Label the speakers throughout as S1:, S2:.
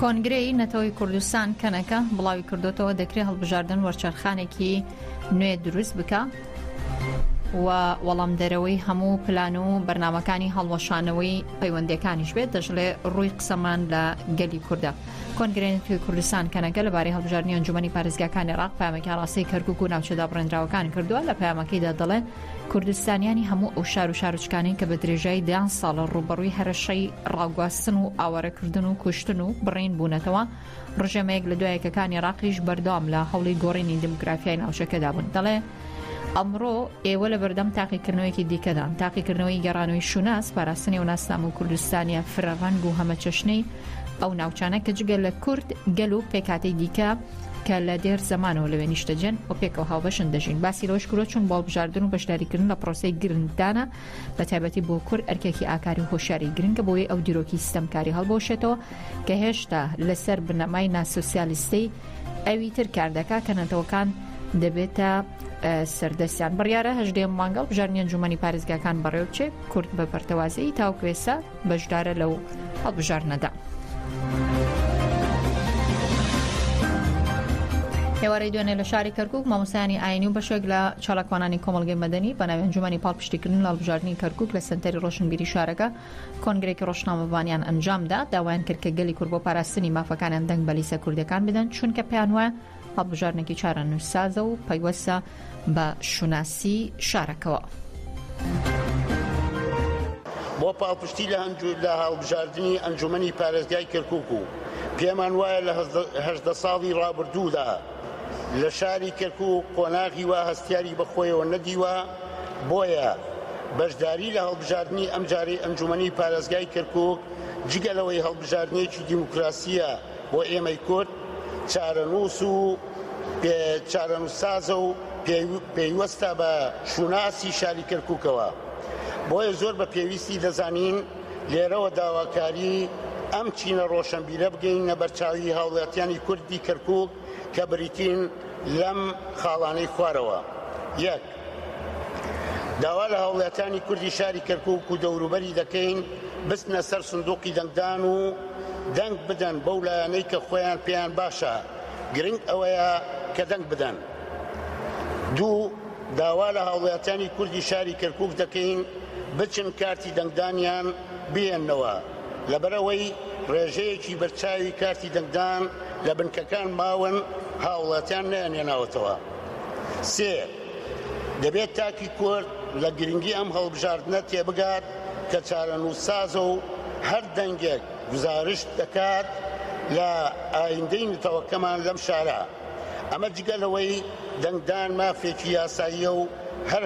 S1: کۆنگرەی نەتەوەی کوردستان کەنەکە بڵاوی کردوتەوە دەکرێ هەڵبژاردن وەرچەرخانێکی نوێ دروست بکە و وەڵام دەرەوەی هەموو پلان و بەرنمەکانی هەڵوەشانەوەی پەیوەندەکانیش بێت دەژڵێ ڕووی قسەمان لە گەلی کووردە کۆنگرێن توی کوردستان کەنەکە لە بارەی هەڵبژاردنیان جومنی پارێزگاکانی ڕاق پامەکە ڕاستی کەرکک و ناوچەدا بڕێنراوەکان کردووە لە پامەکەیدا دەڵێ کوردستانیانی هەموو ئەو شار و شارچکانەی کە بە درێژایی دەیان ساڵە ڕوبەڕووی هەرەشەی ڕاگواستن و ئاوارەکردن و کوشتن و بڕین بوونەتەوە ڕژێمەیەک لە دوایەکەکانی ڕاقیش بەردەوام لە هەوڵی گۆڕینی دموگرافیای ناوچەکەدا بوون دەڵێ ئەمڕۆ ئێوە لە بەردەم تاقیکردنەوەیکی دیکەدان تاقیکردنەوەی گەڕانەوەی شوناس پاراستنی و ناسنامە و کوردستانە فرەڕەنگ و هەمە چەشنەی ئەو ناوچانە کە جگە لە کورد گەل و پێکاتی دیکە کە لە دێر زەمانەوە لەوێ نیشتەجێن و پێکەوە هاوبەشن دەژین باسی لەوەش کرۆ چون بە هەڵبژاردن و بەشداریکردن لە پرۆسی گرنگدانە بە تایبەتی بۆ کورد ئەرکێکی ئاکاری هۆشاری گرنگە بۆی ئەو دیرۆکی ستەمکاری هەڵبۆشێتەوە کە هێشتا لەسەر بنەمای ناسۆسیالیستەی ئەوی تر کار دەکا کە نەتەوەکان دەبێتە سەردەستیان بڕیاە هەژدێ مانگەڵ بژارنیان جومەنی پارێزگاکان بەڕێوچێ کورد بە پەرتەوازەی تاوکوێسە بەشدارە لەو هەڵبژاردنەدا. ئێوارەی دوێنێ لە شاری کەرکک مامۆسانی ئاینی و بەشێک لە چالاکوانانی کۆمەلگەی مەدەنی بە ناوێنجومانی پاڵپشتیکردن لە هەڵبژاردننی کەرکک لە سنتەری ڕۆشنبیری شارەکە کۆنگرێکی ڕۆژنامەبانیان ئەنجامدا داوایان کرد کە گەلی کورد بۆ پاراستنی مافەکانیان دەنگ بەلیسە کوردەکان بدەن چونکە پێیان وایە هەڵبژاردنێکی چارەنووسسازە و پەیوەستە بە شوناسی شارەکەوە.
S2: بۆ پاڵپشتی لە هەنجو لە هەڵبژاردنی ئەنجومەنی پارێزگای کەرکوک و پێمان وایە لە هەژدە ساڵی ڕابردوودا لە شاری کەرکوک قۆناغی وا هەستیاری بەخۆیەوە نەدیوە بۆیە بەشداری لە هەڵبژاردنی ئەمجارەی ئەنجومەنی پارێزگای کەرکوک جگە لەوەی هەڵبژاردنێکی دیموکراسیە بۆ ئێمەی کورد چارەنووس و چارەنووسسازە و پەیوەستە بە شوناسی شاری کەرکووکەوە، بۆیە زۆر بە پێویستی دەزانین لێرەوە داواکاریی ئەم چینە ڕۆشەنبیرە بگەیینە بەرچاوی هاوڵاتیانی کوردی کەرکووک کە بریتین لەم خاڵانەی خوارەوە، یەک. داوا لە هاوڵاتیانی کوردی شاری کەرکوک و دەوروبەری دەکەین بچنە سەر سندوقی دەنگدان و دەنگ بدەن بەو لایەنەی کە خۆیان پێیان باشە گرنگ ئەوەیە کە دەنگ بدەن دوو داوا لە هاوڵاتیانی کوردی شاری کەرکوک دەکەین بچن کارتی دەنگدانیان بهێنەوە لەبەرەوەی ڕێژەیەکی بەرچاوی کارتی دەنگدان لە بنکەکان ماون هاوڵاتیان نەیانێناوەتەوە. سێ، دەبێت تاکی کورد لە گرنگی ئەم هەڵبژاردنە تێبگات کە چارەنووسسازە و هەر دەنگێک گوزارشت دەکات لە ئایندەی نەتەوەکەمان لەم شارە. ئەمە جگە لەوەی دەنگدان مافێکی یاساییە و هەر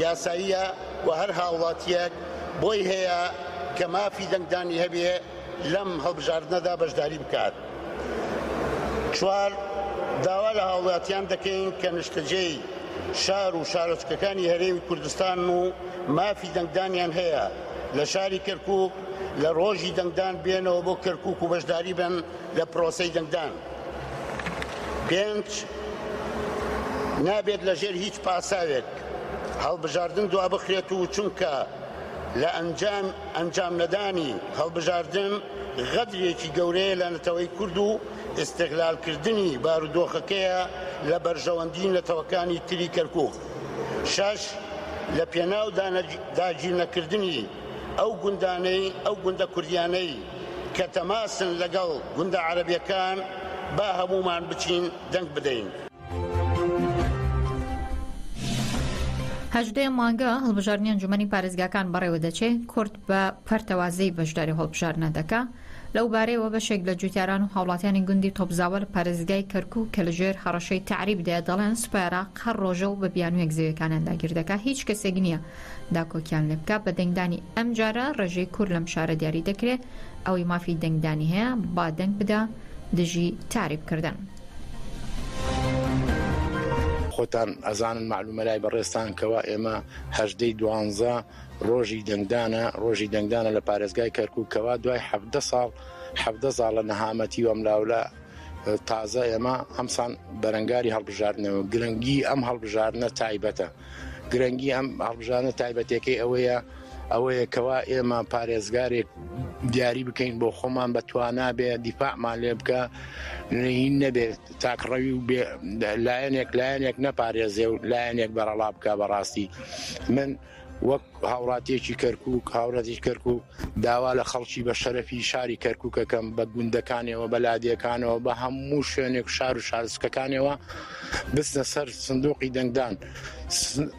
S2: یاساییە و هەر هاوڵاتییەک بۆی هەیە کە مافی دەنگدانی هەبێ لەم هەڵبژاردنەدا بەشداری بکات. چوار، داوا لە هاوڵاتیان دەکەین کە نیشتەجێی شار و شارۆچکەکانی هەرێمی کوردستانن و مافی دەنگدانیان هەیە لە شاری کەرکوک لە ڕۆژی دەنگدان بێنەوە بۆ کەرکوک و بەشداری بن لە پرۆسەی دەنگدان. پێنج، نابێت لەژێر هیچ پاساوێک هەڵبژاردن دوابخرێت و چونکە لە ئەنجام ئەنجام نەدانی هەڵبژاردن غەدرێکی گەورەیە لە نەتەوەی کورد و ئیستغلال کردنی بارودۆخەکەیە لە بەرژەوەندی نەتەوەکانی تری کەرکوک شەش لە پێناو داگیر نەکردنی ئەو گوندانەی ئەو گوندە کوردیانەی کە تەماسن لەگەڵ گوندە عەرەبیەکان با هەموومان بچین دەنگ بدەین.
S1: هەژدە ی مانگە هەڵبژاردنی ئەنجومەنی پارێزگاکان بەڕێوە دەچێ کورد بە پەرتەوازەی بەشداری هەڵبژاردنە دەکا لەو بارەیەوە بەشێک لە جوتیاران و هاوڵاتیانی گوندی تۆپزاوە لە پارێزگای کەرکوک کە لەژێر هەڕەشەی تەعریبدا دەڵێن سوپای عێراق هەر ڕۆژە و بە بیانوویەک زەویەکانیان داگیر دەکا هیچ کەسێک نییە داکۆکیان لێ بکا بە دەنگدانی ئەم جارە ڕێژەی کورد لەم شارە دیاری دەکرێت ئەوەی مافی دەنگدانی هەیە با دەنگ بدا دژی تاریب کردن.
S3: خۆتان ئەزانن مەعلومە لای بەڕێزتان کەوا ئێمە هەژدە ی دوانزە ڕۆژی دەنگدانە ڕۆژی دەنگدانە لە پارێزگای کەرکوک کەوا دوای حەڤدە ساڵ حەڤدە زاڵە نەهامەتی و ئەملاولا تازە ئێمە ئەمسان بەرەنگاری هەڵبژاردنەوە گرنگی ئەم هەڵبژاردنە تایبەتە. گرنگی ئەم هەڵبژانە تایبەتەکەی ئەوەیە ئەوەیە کەوا ئێمە پارێزگارێک دیاری بکەین بۆ خۆمان بە توانا بێ دیفاعمان لێ بکە نین نەبێت تاکڕەوی و لایەنێک لایەنێک نەپارێزێ و لایەنێک بەرەڵا بکە بەڕاستی من وەک هاوڵاتیەکی کەرکوک هاوڕەتی کەرکوک داوا لە خەڵکی بە شەرەفی شاری کەرکوکەکەم بە گوندەکانەوە بە لادێکانەوە بە هەموو شوێنێک شار و شارسکەکانەوە بستە سەر سندوقی دەنگدان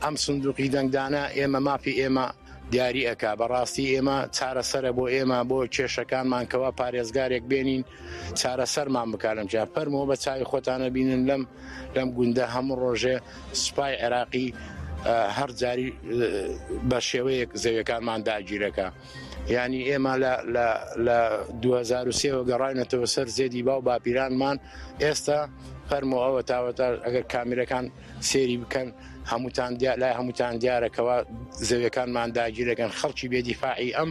S3: ئەم سندوقی دەنگدانە ئێمە مافی ئێمە دیاری ئەک بەڕاستی ئێمە چارەسرە بۆ ئێمە بۆ کێشەکانمان کەوا پارێزگارێک بێنین چارەسەرمان بکارم جا فەرمەوە بە چای خۆتانە بینن لەم لەم گوندە هەموو ڕۆژێ سوپای عێراقی هەر جاری بە شێوەیەک زەویەکانمان داگیرەکە ینی ئێمە لە 2023ەوە گەڕینەتەوە سەر زێدی باو باپیرانمان ئێستا فەرمۆ ئەوە تاوەتا ئەگەر کامیرەکان سێری بکەن هەمووتان لای هەمووتان دیارەکەەوە زەویەکانمان داگیرەکەن خەڵکی بێدیفاعی ئەم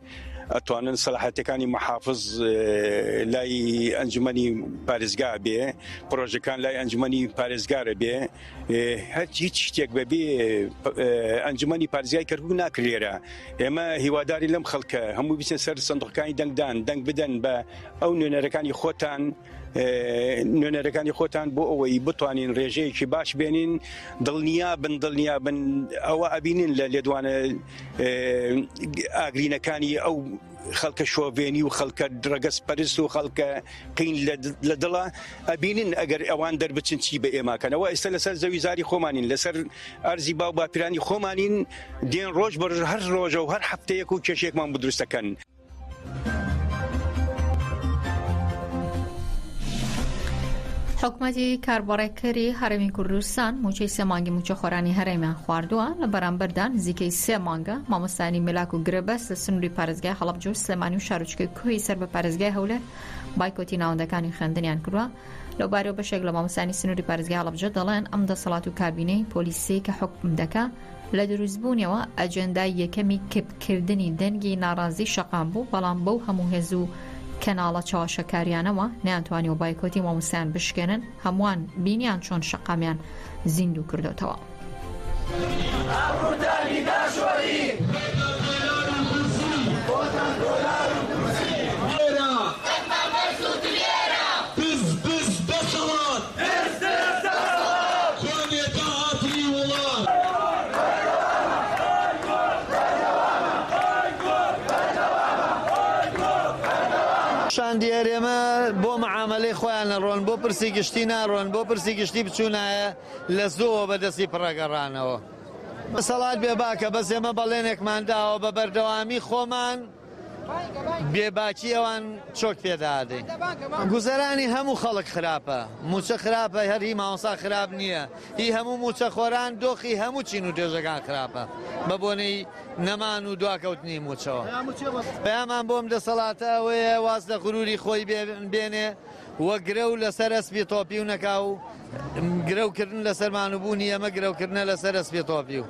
S4: ئەتوانن سەلاحەتەکانی محافز لای ئەنجومی پارێزگا بێ پرۆژەکان لای ئەنجومی پارێزگارە بێ هەر هیچ شتێک بەبێ ئەنجومی پارزیای کەرکک ناکرێرە ئێمە هیواداری لەم خەڵکە هەموو بچن سەر سندوقەکانی دەنگدان دەنگ بدەن بە ئەو نوێنەرەکانی خۆتان نوێنەرەکانی خۆتان بۆ ئەوەی بتوانین ڕێژەیەکی باش بێنین دڵنیا بن دڵنیا بن ئەوە ئەبینین لە لێدوانە ئاگرینەکانی ئەو خەڵکە شۆڤێنی و خەڵکە ڕەگەز پەرست و خەڵکە قین لە دڵە ئەبینن ئەگەر ئەوان دەربچن چی بە ئێماکەنەوە ئێستا لەسەر زەوی زاری خۆمانین لەسەر ئەرزی باو باپیرانی خۆمانین دێن ڕۆژ بە هەر ڕۆژە و هەر هەفتەیەک و کێشێکمان بدرستەکەن
S1: حکومەتی کاربەڕێکەری هەرێمی کوردستان موچەی سێ مانگی موچەخۆرانی هەرێمیان خواردووە لە بەرامبەردا نزیکەی سێ مانگە مامۆستانی ملاک و گرێبەست لە سنووری پارێزگای هەڵەبجە و سلێمانی و شارۆچکەی کوهی سەر بە پارێزگای هەولێر بایکۆتی ناوەندەکانی خوێندنیان کردووە لەو بارەوە بەشێک لە مامۆستانی سنووری پارێزگای هەڵەبجە دەڵێن ئەم دەسەڵات و کابینەی پۆلیسی کە حکم دەکا لە دروستبوونیەوە ئەجێندای یەکەمی کپ کردنی دەنگی ناڕازی شەقام بوو، بەڵام بەو هەموو هێز و کەناڵە چەواشەکاریانەوە نەیانتوانیوە بایکۆتی مامۆستایان بشکێنن، هەمووان بینیان چۆن شەقامیان زیندوو کردۆتەوە.
S5: شاندی هەرێمە بۆ مەعامەلەی خۆیان ئەڕۆن، بۆ پرسی گشتی ناڕۆن، بۆ پرسی گشتی بچوونایە لە زۆوە بە دەستی پڕە گەڕانەوە. دەسەڵات بێباکە، بەس ئێمە بەڵێنێکمان داوە بە بەردەوامی خۆمان، بێ باکی ئەوان چۆک پێدادەین گوزەرانی هەموو خەڵک خراپە موچە خراپە هەر هی ماوەسا خراپ نییە هی هەموو موچە خۆران دۆخی هەموو چین و توێژەکان خراپە بە بۆنەی نەمان و دواکەوتنی موچەوە پەیامان بۆم دەسەڵاتە ئەوەیە واز لە غروری خۆی بێنێ وەگرە و لەسەر ئەسپی تۆپی و نەکاو گرەوکردن لەسەر مان و بوونی ئێمە گرەوکردنە لەسەر ئەسپی تۆپی و.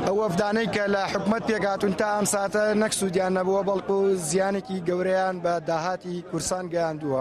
S6: ئەو وەفدانەی کە لە حکومەت پێکهاتوون تا ئەم ساتە نەک سوودیان نەبووە بەڵکو زیانێکی گەورەیان بە داهاتی کورسان گەیاندووە.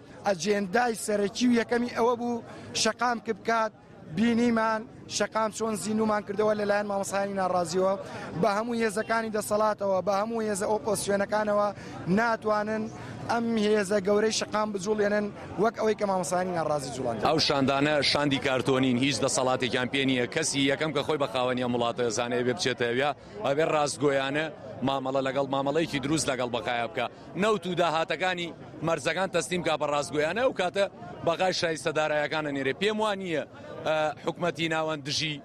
S6: ئەجێندای سەرەکی و یەکەمی ئەوە بوو شەقام کپ بکات، بینیمان شەقام چۆن زیندوومان کردەوە لەلایەن مامۆستایانی ناڕازیەوە بە هەموو هێزەکانی دەسەڵاتەوە بە هەموو هێزە ئۆپۆسیۆنەکانەوە ناتوانن ئەم هێزە گەورەی شەقام بجوڵێنن وەک ئەوەی کە مامۆستایانی ناڕازی جوڵان ئەو شاندانە
S7: شاندی کارتۆنین هیچ دەسەڵاتێکیان پێ نییە کەسی یەکەم کە خۆی بە خاوەنی ئەم وڵاتە زانێ بێ بچێتەوە ئەوێ ڕاستگۆیانە مامەڵە لەگەڵ مامەڵەیەکی دروست لەگەڵ بەقایا بکە. نەوت و داهاتەکانی مەرزەکان تەسلیم کا بە ڕاستگۆیانە ئەو کاتە بەغای شایستە دارایەکانە نێرێ پێم وا نییە حکومەتی ناوەند دژی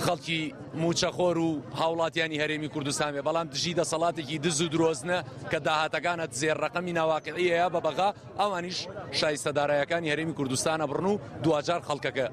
S7: خەڵکی موچەخۆر و هاوڵاتیانی هەرێمی کوردستان بێ بەڵام دژی دەسەڵاتێکی دز و درۆزنە کە داهاتەکانە زێر ڕقمی ناواقعەیە بە بەغا ئەوانیش شایستە دارایەکانی هەرێمی کوردستانە بڕن و دوجار خەڵکەکە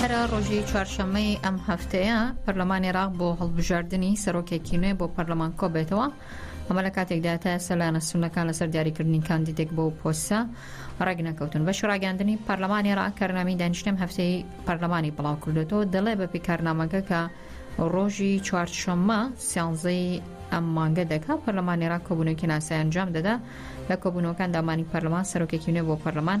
S1: هەرا ڕۆژی چوارشەممەی ئەم هەفتەیە پەرلەمانی عێراق بۆ هەڵبژاردنی سەرۆکێکی نوێ بۆ پەرلەمان کۆبێتەوە ئەمە لە کاتێکدا تا ئێستا لایەنە سونەکان لەسەر دیاریکردنی کاندیدێک بۆ پۆستە ڕێک نەکەوتن بەشی ڕاگەاندنی پەرلەمانی عێراق کارنامی دانیشتنم هەفتەی پەرلەمانی بڵاو کردوێتەوە دەڵێ بە پێکارنامەکە کە ڕۆژی چوارشەممە سیانزەی ئەم مانگە دەکا پەرلەمانی عێراق کۆبوونەوەکی ناسای ئەنجام دەدا لە کۆبوونەوەکان دامانی پەرلەمان سەرۆکێکی نوێ بۆ پەرلەمان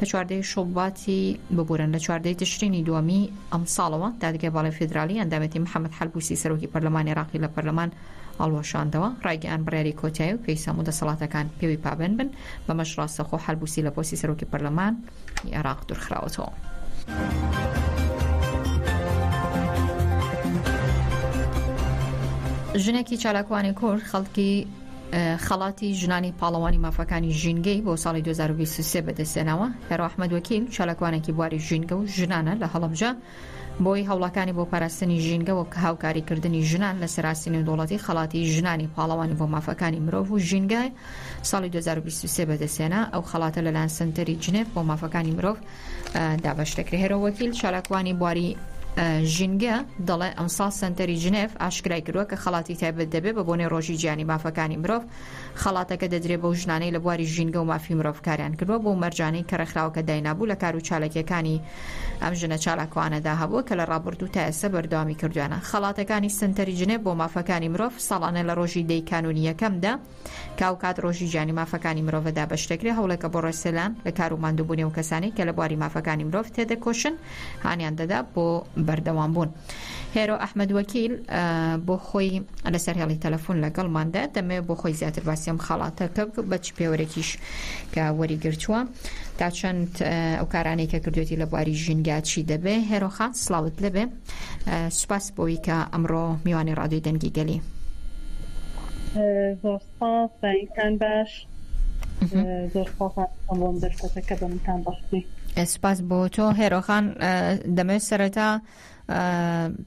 S1: لە چواردەی شوباتی ببورن لە چواردەی تشرینی دووەمی ئەم ساڵەوە دادگای باڵی فیدرالی ئەندامێتی محەممەد حەلبوسی سەرۆکی پەرلەمانی عراقی لە پەرلەمان ئەڵوەشاندەوە ڕایگەیان بڕیاری کۆتایی و پێی سەمو دەسەڵاتەکان پێوی پابند بن بەمەش ڕاستەخۆ حەلبوسی لە پۆسی سەرۆکی پەرلەمان عێراق دوورخراوەتەوە. ژنێکی چالاکوانی کورد خەڵکی خەڵاتی ژنانی پاڵەوانی مافەکانی ژینگەی بۆ ساڵی 2023 بەدەستێنەوە هێرو ئەحمد وەکیل چالاکوانێکی بواری ژینگە و ژنانە لە هەڵبجە بۆی هەوڵەکانی بۆ پاراستنی ژینگە وەک هاوکاریکردنی ژنان لە سەراستی نێودوڵەتی خەڵاتی ژنانی پاڵەوانی بۆ مافەکانی مرۆڤ و ژینگای ساڵی 2023 بەدەستێنا ئەو خەڵاتە لەلاەن سنتەری جنێف بۆ مافەکانی مرۆڤ دابەش دەکرێت هێرۆ وەکیل چالاکوانی بواری ژینگە دەڵێ ئەمساڵ سنتەری جنێف ئاشکرای کردووە کە خەڵاتی تایبەت دەبێت بە بۆنەی ڕۆژی گیانی مافەکانی مرۆڤ خەڵاتەکە دەدرێ بەو ژنانەی لە بواری ژینگە و مافی مرۆڤکاریان کردووە بۆ مەرجانەی کە ڕێکخراوەکە داینابوو لە کار و چالکیەکانی ئەم ژنە چالاکوانەدا هەبووە کە لە ڕابردوو تا ئێستا بەردەوامی کردویانە خەڵاتەکانی سنتەری جنێف بۆ مافەکانی مرۆڤ ساڵانە لە ڕۆژی دەی کانونیەکەمدا کە ئەو کات ڕۆژی جیانی مافەکانی مرۆڤە دابەش دەکرێت هەوڵێکە بۆ ڕێسێلان لە کار و ماندووبوونی و کەسانی کە لە بواری مافەکانی مرۆڤ تێدەکۆشن هانیان دەدا بۆ بەردەوام بوون هێرۆ ئەحمد وەکیل بۆ خۆی لەسەر هێڵی تەلەفۆن لەگەڵماندا دەمێ بۆ خۆی زیاتر باسیێم خەڵاتەکە بەچ پێوەرێکیش کە وەریگرتووە تا چەند ئەو کارانەی کە کردوێتی لە بواری ژینگاچی دەبێ هێرۆخان سلااوت لەبێ سوپاس بۆی کە ئەمڕۆ میوانی ڕادوی دەنگی گەلی
S8: زۆر سپاس بەینتان باش زۆر بۆم دەرکەتەکە بەمتان بەختی سپاس بۆ
S1: تۆ هێرۆخان دەمەوێت سەرەتا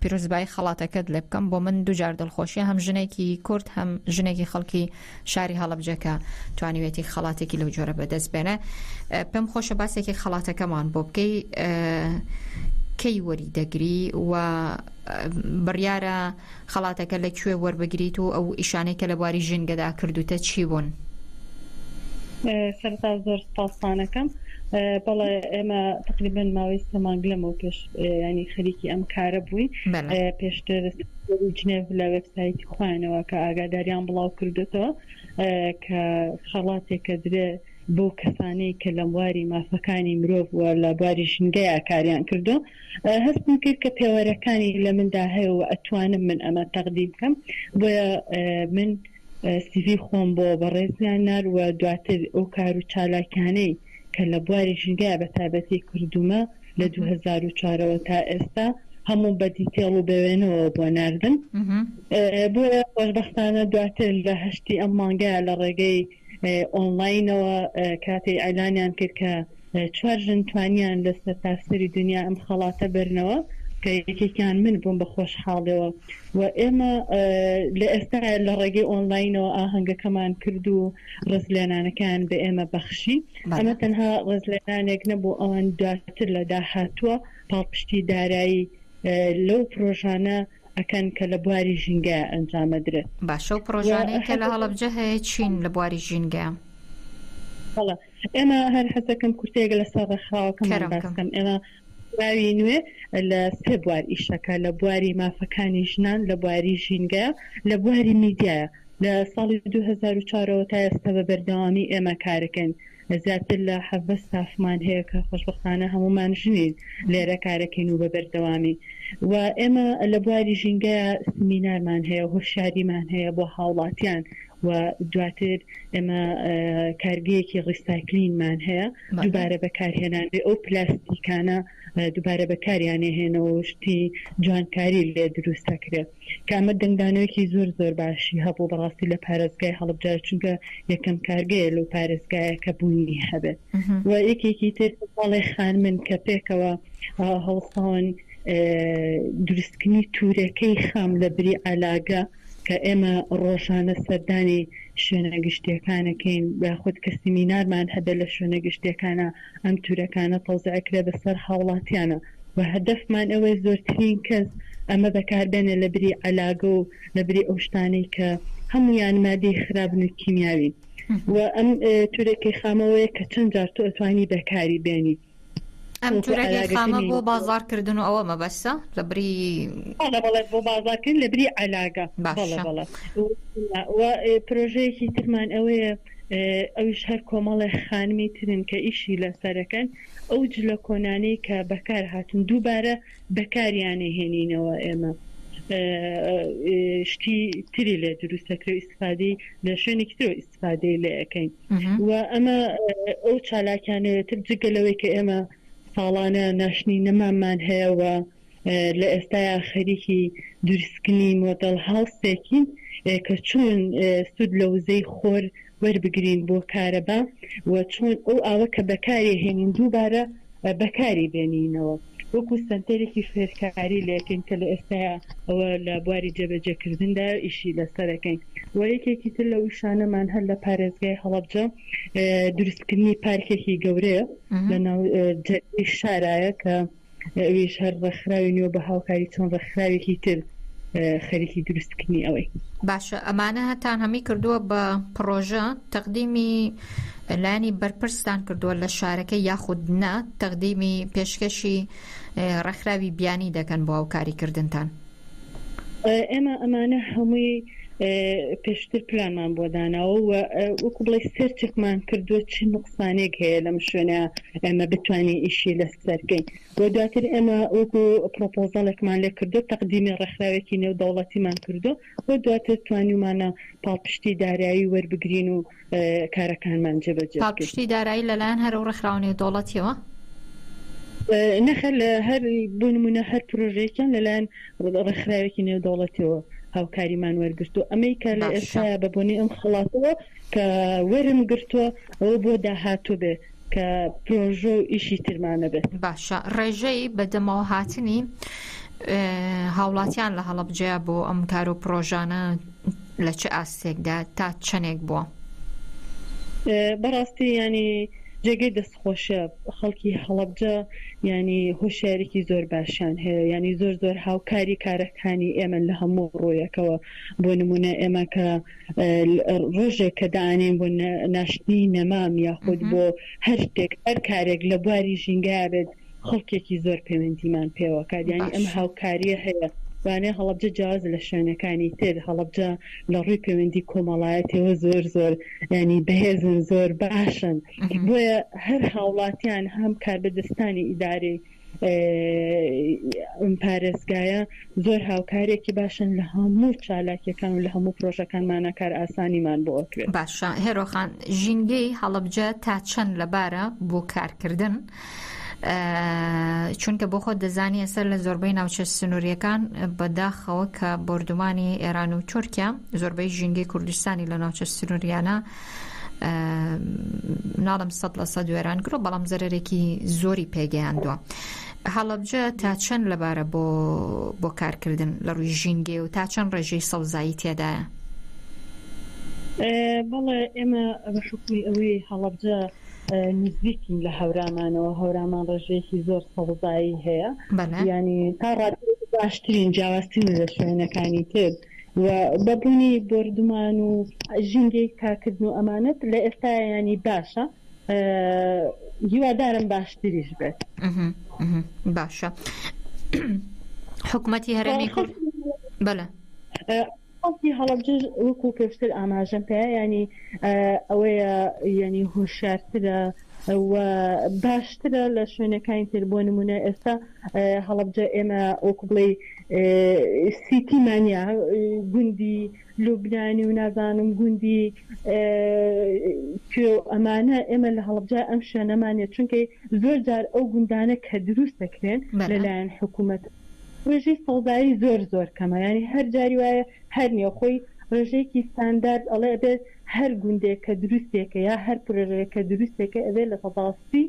S1: پیرۆزبایی خەڵاتەکەت لێ بکەم بۆ من دوجار دڵخۆشیە هەم ژنێکی کورد هەم ژنێکی خەڵکی شاری هەڵەبجە کە توانیوێتی خەڵاتێکی لەو جۆرە بەدەست بێنە پێم خۆشە باسێکی خەڵاتەکەمان بۆ بکەی کەی وەری دەگری و بڕیارە خەڵاتەکە لە کوێ وەربگریت و ئەو ئیشانەی کە لە بواری ژینگەدا کردوتە چی بوون؟ سەرتا زۆر
S8: سپاسانەکەم بەڵێ ئێمە تقریبن ماوەی سەمانگ لەمەوە پێش ینی خەریکی ئەم کارە بووین پێشتر وەرو جنێڤ لە وێبسایتی خۆیانەوە کە ئاگاداریان بڵاو کردۆتەوە کە خەڵاتێکە درێ بۆ کەسانەی کە لە بواری مافەکانی مرۆڤ و لە بواری ژینگەیا کاریان کردۆ هەستم کرد کە پێوەرەکانی لە مندا هەیە و ئەتوانم من ئەمە تەقدیم کەم بۆیە من سیڤی خۆم بۆ بەڕێزیان نارد و دواتر ئەو کار و چالاکیانەی کە لە بواری ژینگەیا بە تایبەتی کردوومە لە دوو هەزار و چوار ەوە تا ئێستا هەموو بە دیتێڵ و بە وێنەوە بۆ ناردم بۆیە خۆشبەختانە دواتر لە هەشتی ئەم مانگەیا لە ڕێگەی ئۆنڵاینەوە کاتێی ئەلانیان کرد کە چوار ژن توانیان لە سەرتاسەری دونیا ئەم خەڵاتە بەرنەوە کە یەکێکیان من بووم بە خۆشحاڵیەوە و ئێمە لە ئێستاە لە ڕێگەی ئۆنلاینەوە ئاهەنگەکەمان کرد و ڕزلێنانەکان بە ئێمە بەخشی ئەمە تەنها ڕزلێنانێک نەبوو ئەوان دواتر لە داهاتووە پاڵپشتی دارایی لەو پرۆژانە ئەکەن کە لە بواری ژینگە ئەنجامەدرێت باشە و پرۆژانەی
S1: کە لە هەڵبجە هەیە چین لە بواری ژینگە؟
S8: ئێمە هەر حەزەکەم کورتەیەک لەسەر ڕێکخراوەکەمان باس کەرەوەکەم. بکەم ئێمە ڕێکخراوی نوێ لە سێ بوار ئیشەکە لە بواری مافەکانی ژنان لە بواری ژینگە لە بواری میدیایە لە ساڵی دوو هەزار و چوار ەوە تا ئێستا بە بەردەوامی ئێمە کارەکەین زیاتر لە حەڤدە ستافمان هەیە کە خۆشبەختانە هەموومان ژنین لێرە کارەکەین و بە بەردەوامی و ئێمە لە بواری ژینگەیە سمینارمان هەیە هۆشیاریمان هەیە بۆ هاوڵاتیان و دواتر ئێمە کارگەیەکی ڕیسایکلینمان هەیە دووبارە بەکارهێنان بێ ئەو پلاستیکانە دووبارە بەکاریانێ هێنەوە و شتی جوانکاری لێ دروست دەکرێ کە ئەمە دەنگدانەوەیەکی زۆر زۆر باشی هەبوو بەڕاستی لە پارێزگای هەڵبجاش چونکە یەکەم کارگەیە لەو پارێزگایە کە بوونی هەبێت و یەکێکی تر ماڵێ خانمن کە پێکەوە هەڵساون دروستکردنی تورەکەی خام لە بری عەلاگە کە ئێمە ڕۆژانە سەردانی شوێنە گشتییەکانەکەین یاخود کە سیمینارمان هەبێت لە شوێنە گشتییەکانە ئەم تورەکانە تەوزیع کرێ بەسەر هاوڵاتیانە و هەدەفمان ئەوەیە زۆرترین کەس ئەمە بەکاربێنێ لە بری عەلاگە و لە بری ئەو شتانەی کە هەموویان مادەی خرابن و کیمیاوین و ئەم تورێکی خامەوەیە کە چەند جار تۆ ئەتوانی بەکاری بێنی. ئەم جورە لێ
S1: خامە بۆ بازار کردن و ئەوە مەبەستە لە بری بۆ
S8: بازارکردن لە بری علاگە پرۆژەیەکی ترمان ئەوەیە ئەوش هەر کۆمەڵی خانمی ترن کە ئیشی لە سەرەکەن ئەو جلە کۆنانەی کە بەکار هاتن دووبارە بەکاریانێ هێنینەوە ئێمە شتی تری لێ دروستەکرێ ئیسفادی لە شوێنێکی ترۆ استفادەی لێ ئەکەین و ئەمە ئەو چالاکیانەوێتر جگە لەوەی کە ئێمە ساڵانە ناشنی نەمامان هەیەەوە لە ئێستایا خەریکی دروستکردنی مۆدەل هاوسێکین کە چۆن سود لە وزەی خۆر وەربگرین بۆ کارەبا و چۆن ئەو ئاوە کە بەکارێ هێنین دووبارە بەکاری بێنینەوە. وەکو سەنتەرێکی فێرکاری لێکەین کە لە ئێستاوە لە بواری جێبەجێکردندا ئیشی لەسەرەکەین و یەکێکی تر لە وشانەمان هەر لە پارێزگای هەڵەبجە دروستکردنی پارکێکی گەورەیە لە ناو شارایە کە ئەویش هەر ڕێکخراوی نوێ بە هاوکاری چۆن ڕێکخراوێکی تر خەریکی دروستکردنی ئەوەی باشە ئەمانە
S1: هەتان هەمی کردووە بە پڕۆژە تەقدیمی لایەنی بەرپرستان کردووە لە شارەکە یاخود نە تەقدیمی پێشکەشی ڕێکخراوی بیانی دەکەن بۆ هاوکاری کردنتان
S8: ئێمە ئەمانە هەمووی پێشتر پلامان بۆ داناوە و وەکو بڵی سەرچێکمان کردووە چ نقصانێک هەیە لەم شوێنە ئێمە بتوانین ئیشی لەسەرکەین و دواتر ئێمە وەکو پرۆپۆزەڵێکمان لێ کردو تەقدیمی ڕێکخراوێکی نێو دەوڵەتیمان کردو و دواتر توانیمانە پاڵپشتی دارایی وەربگرین و کارەکانمان جێبەجێ بکەین. پاڵپشتی دارایی لەلایەن
S1: هەرە و ڕێکخراوە نێودەوڵەتییەوە؟
S8: نەخێر، هەر بۆ نموونە هەر پرۆژەیەکیان لەلایەن ڕێکخراوێکی نێودەوڵەتیەوە هاوکاریمان وەرگرتووە، ئەمەی کە لە ئێستایا بە بۆنەی ئەم خەڵاتەوە کە وەرم گرتووە ئەوە بۆ داهاتوو بێ کە پرۆژە و ئیشی ترمان نەبێت. باشە ڕێژەی
S1: بەدەمەوە هاتنی هاوڵاتیان لە هەڵەبجەیە بۆ ئەم کار و پرۆژانە لە چ ئاستێکدا تا
S8: چەنێک
S1: بووە؟
S8: بەڕاستی
S1: یانی
S8: جێگەی دەست خۆشە خەڵکی هەڵەبجە یانی هۆشیاریکی زۆر باشیان هەیە یانی زۆر زۆر هاوکاری کارەکانی ئێمە لە هەموو ڕوویەکەوە بۆ نمونە ئێمە کە ڕۆژێک کە دانێن بۆ ناشتنی نەمام یاخود بۆ هەر شتێک هەر کارێک لە بواری ژینگە بێت خەڵکێکی زۆر پەیوەندیمان پێوە کات یانی ئەم باشە. هاوکاریە هەیە وانەیە هەڵەبجە جیاوازە لە شوێنەکانی تر هەڵەبجە لە ڕووی پەیوەندی کۆمەڵایەتیەوە زۆر زۆر ینی بەهێزن زۆر باشن بۆیە هەر هاوڵاتیان هەم کاربەدەستانی ئیدارەی ئەم پارێزگایە زۆر هاوکارێکی باشن لە هەموو چالاکیەکان و لە هەموو پرۆژەکانمانە کار ئاسانیمان بۆ کرێت باشە هێرۆخان
S1: ژینگەی هەڵەبجە تا چەند لەبارە بۆ کارکردن چونکە بۆ خۆت دەزانی ئێستا لە زۆربەی ناوچە سنووریەکان بەداخەوە کە بردومانی ئێران و تورکیا زۆربەی ژینگەی کوردستانی لە ناوچە سنووریانە ناڵم سە لە سە دوێران گرۆ بەڵام زەرێکی زۆری پێگەیاندووە. هەڵبجە تا چەند لەبارە بۆ بۆ کارکردن لە ڕووی ژینگێ و تا چەند ڕێژەی سەوزایی تێدایە بەڵێ ئێمە بە حکومی ئەوەی
S8: هەڵبجە نزیکین لە هەورامانەوە هەورامان ڕێژەیەکی زۆر سەوزایی هەیە یانی تا ڕادەیەک باشترین جیاوازترین لە شوێنەکانی تر و بە بوونی بۆردومان و ژینگەی تاکردن و ئەمانەت لە ئێستا ینی باشە هیوادارم باشتریش بێت
S1: باشە حکوومەتی هەرێمی کورد بەە
S8: خەڵکی هەڵەبجەش وەکو پێشتر ئاماژەم پێ یانی ئەوەیە یانی هۆشارترە و باشترە لە شوێنەکانی تر بۆ نمونە ئێستا هەڵەبجە ئێمە وەکو بڵێ سیتی مانیا گوندی لوبنانی و نازانم گوندی کوێ ئەمانە ئێمە لە هەڵبجای ئەم شوێنەمانە چونکەی زۆر جار ئەو گوندانە کە دروست دەکرێن لەلایەن حکوومەت ڕێژەی سەوزایی زۆر زۆر کەمە یانی هەر جاری وایە هەر نێوخۆی ڕێژەیەکی ستاندارد ئەڵێ ئەبێ هەر گوندێک کە دروستێکە یا هەر پرۆژەیەک کە دروستێکە ئەبێ لە سەدا سی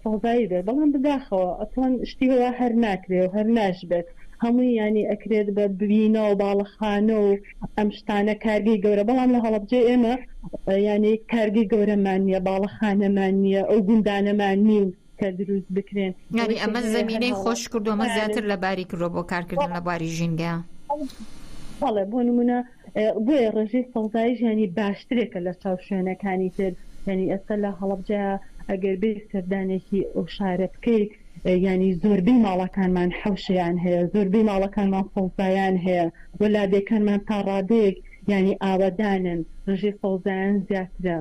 S8: سەوزایی بێت بەڵام بداخەوە ئەسڵەن شتی وا هەر ناکرێ و هەر ناشبێت هەمووی یانی ئەکرێت بە بینە و باڵەخانە و ئەم شتانە کارگەی گەورە بەڵام لە هەڵەبجەی ئێمە یانی کارگەی گەورەمان نییە باڵەخانەمان نییە ئەو گوندانەمان نین کە دروست بکرێن یعنی ئەمە زمینەی
S1: خۆش کردومە زیاتر لە باری کردو بۆ کارکردن لە باری ژینگە
S8: بەڵێ بۆ نمونە بۆیە ڕژەی سەوزایی ژیانی باشترێکە لە چاو شوێنەکانی تر ینی ئێستا لە هەڵبجە ئەگەر بێ سەردانێکی ئەو شارە بکەیت ینی زۆربەی ماڵەکانمان حوشیان هەیە زۆربەی ماڵەکانمان سەوزایان هەیە وەلادێکانمان تا ڕادەیەک یانی ئاوەدانن ڕژی سەوزایان زیاترە.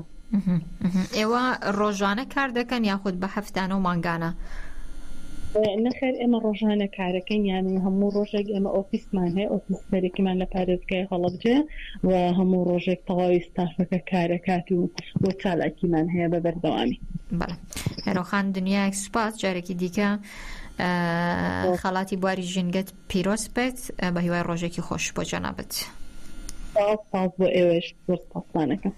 S8: ئێوە
S1: ڕۆژانە کار دەکەن یاخود بە هەفتانە و مانگانە؟
S8: نەخێر ئێمە ڕۆژانە کارەکەین یانی هەموو ڕۆژێک ئێمە ئۆفیسمان هەیە ئۆفیس سەرەکیمان لە پارێزگای هەڵەبجەیە و هەموو ڕۆژێک تەواوی ستافەکە کارەکات و بۆ چالاکیمان هەیە بە بەردەوامی
S1: هێرۆخان دنیایەک سوپاس جارێکی دیکە خەڵاتی بواری ژینگەت پیرۆز بێت بە هیوای ڕۆژێکی خۆش بۆ جەنابت. سپاس
S8: سپاس بۆ ئێوەش زۆر سپاسمانەکەم.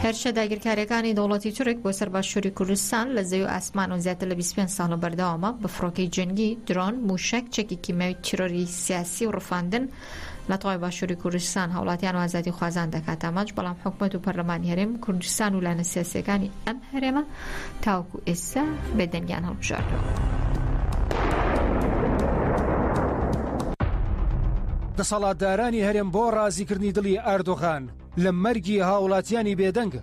S1: هێرشە داگیرکاریەکانی دەوڵەتی تورک بۆ سەر باشووری کوردستان لە زەوی و ئاسمان و زیاتر لە 25 ساڵە بەردەوامە بە فڕۆکەی جەنگی درۆن موشەک چەکی کیمیاوی تیرۆری سیاسی و ڕفاندن لە تەوای باشوری کوردستان هاوڵاتیان و ئازادی خوازان دەکات ئامانج بەڵام حکومەت و پەرلەمانی هەرێم کوردستان و لایەنە سیاسیەکانی ئەم هەرێمە تاوکو ئێستا بێدەنگیان هەڵبژاردەوە.
S9: دەسەڵاتدارانی هەرێم بۆ ڕازیکردنی دڵی ئاردۆغان لە مەرگی هاوڵاتیانی بێدەنگە.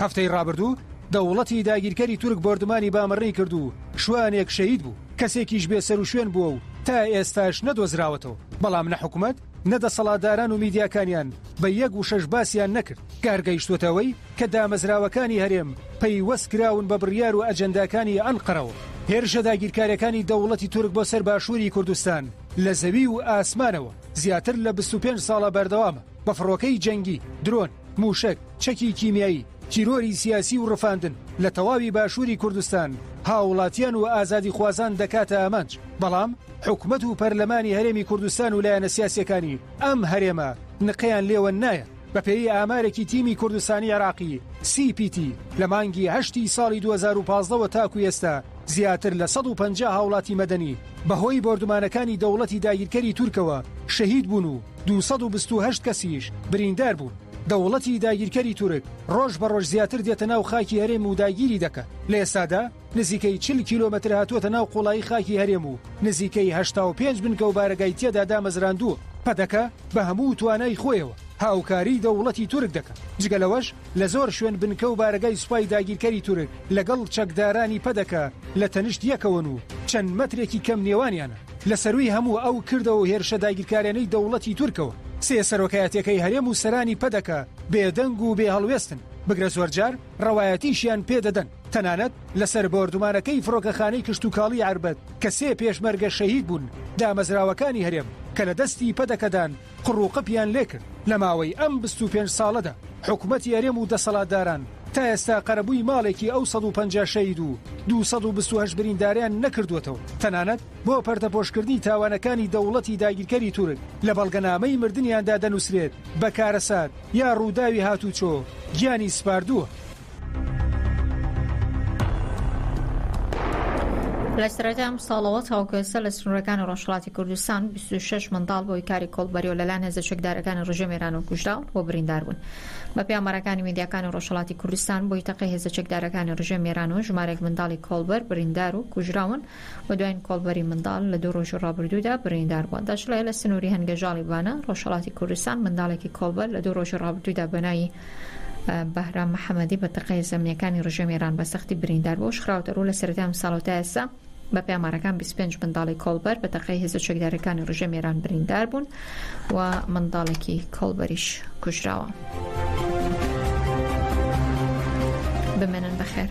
S9: هەفتەی ڕابردوو دەوڵەتی داگیرکەری تورک بۆردمانی بامەڕی کرد و شوانێک شەید بوو کەسێکیش بێ سەر و شوێن بووە و تا ئێستاش نەدۆزراوەتەوە بەڵام نە حکوومەت نە دەسەڵاتداران و میدیاکانیان بە یەک وشەش باسیان نەکرد، کار گەیشتووەتە ئەوەی کە دامەزراوەکانی هەرێم پەیوەست کراون بە بڕیار و ئەجەنداکانی ئەنقەرەوە. هێرشە داگیرکارەکانی دەوڵەتی تورک بۆ سەر باشووری کوردستان لە زەوی و ئاسمانەوە زیاتر لە بیست و پێنج ساڵە بەردەوامە، بە فڕۆکەی جەنگی، درۆن، مووشەک، چەکی کیمیایی، تیرۆری سیاسی و ڕفاندن لە تەواوی باشووری کوردستان، هاوڵاتیان و ئازادیخوازان دەکاتە ئامانج، بەڵام حکومەت و پەرلەمانی هەرێمی کوردستان و لایەنە سیاسییەکانی ئەم هەرێمە نقەیان لێوە نایەت. بەپێی ئامارێکی تیمی کوردستانی عێراقی، سی پی تی، لە مانگی هەشتی ساڵی دوو هەزار و پازدە وە تاکو ئێستا زیاتر لە سەد و پەنجا هاوڵاتی مەدەنی بەهۆی بۆردومانەکانی دەوڵەتی داگیرکەری تورکەوە شەهید بوون و دوو سەد و بیست و هەشت کەسیش بریندار بوون. دەوڵەتی داگیرکەری تورک ڕۆژ بە ڕۆژ زیاتر دێتە ناو خاکی هەرێم و داگیری دەکات، لە ئێستادا نزیکەی چل کیلۆمەتر هاتووەتە ناو قوڵایی خاکی هەرێم و نزیکەی هەشتا و پێنج بنکە و بارەگای تێدا دامەزراندووە. پەدەکە بە هەموو توانای خۆیەوە هاوکاریی دەوڵەتی تورک دەکات، جگە لەوەش لە زۆر شوێن بنکە و بارەگای سوپای داگیرکەری تورک لەگەڵ چەکدارانی پەدەکە لە تەنیشت یەکەوەن و چەند مەترێکی کەم نێوانیانە. لە سەرووی هەموو ئەو کردەوە و هێرشە داگیرکارێنەی دەوڵەتی تورکەوە، سێ سەرۆکایەتیەکەی هەرێم و سەرانی پەدەکە بێدەنگ و بێ هەڵوێستن، بگرە زۆرجار ڕەوایەتیشیان پێدەدەن، تەنانەت لەسەر بۆردومانەکەی فڕۆکەخانەی کشتوکاڵی عەربەت کە سێ پێشمەرگە شەهید بوون، دامەزراوەکانی هەرێم کە لە دەستی پەدەکەدان، قڕ و قپیان لێکرد لە ماوەی ئەم بیست و پێنج ساڵەدا حکومەتی ەرێم و دەسەڵاتداران تا ئێستا قەرەبووی ماڵێکی ئەو سەد و پەنجا شەهید و دوو سەد و بیست و هەشت برینداریان نەکردووەتەوە تەنانەت بۆ پەردەپۆشکردنی تاوانەکانی دەوڵەتی داگیرکەری تورک لە بەڵگەنامەی مردنیاندا دەنووسرێت بە کارەسات یا ڕووداوی هاتووچۆ گیانی سپاردووە.
S1: لە سەرەتای ئەم ساڵەوە تاوەکو ئێستا لە سنوورەکانی ڕۆژهەڵاتی کوردستان بیست و شەش منداڵ بە هۆی کاری کۆڵبەری و لەلایەن هێزە چەکدارەکانی ڕژێمی ئێرانەوە کوژراون و بریندار بوون. بەپێی ئامارەکانی میدیاکانی ڕۆژهەڵاتی کوردستان، بۆی تەقەی هێزە چەکدارەکانی ڕژێمی ئێرانەوە ژمارەیەک منداڵی کۆڵبەر بریندار و کوژراون، و دواین کۆڵبەری منداڵ لە دوو ڕۆژی ڕابردوودا بریندار بووە. داشڵێ، لە سنووری هەنگەژاڵی بانە، ڕۆژهەڵاتی کوردستان، منداڵێکی کۆڵبەر لە دوو ڕۆژی ڕابردوودا بە ناوی بەهرام محەمەدی بە تەقەیە زەمنییەکانی ڕژێمی ئێران بە سەختی بریندار بووە و خراوەتەڕوو لە سەرەتای ئەمساڵ و تا ئێستا بە پێامارەکان بیست و پێنج منداڵی کۆڵبەر بە تەقەی هێزە چەکدارەکانی ڕژێمی ئێران بریندار بوون. و منداڵێکی کۆڵبەریش کوژراوە. بمێنن بەخێر.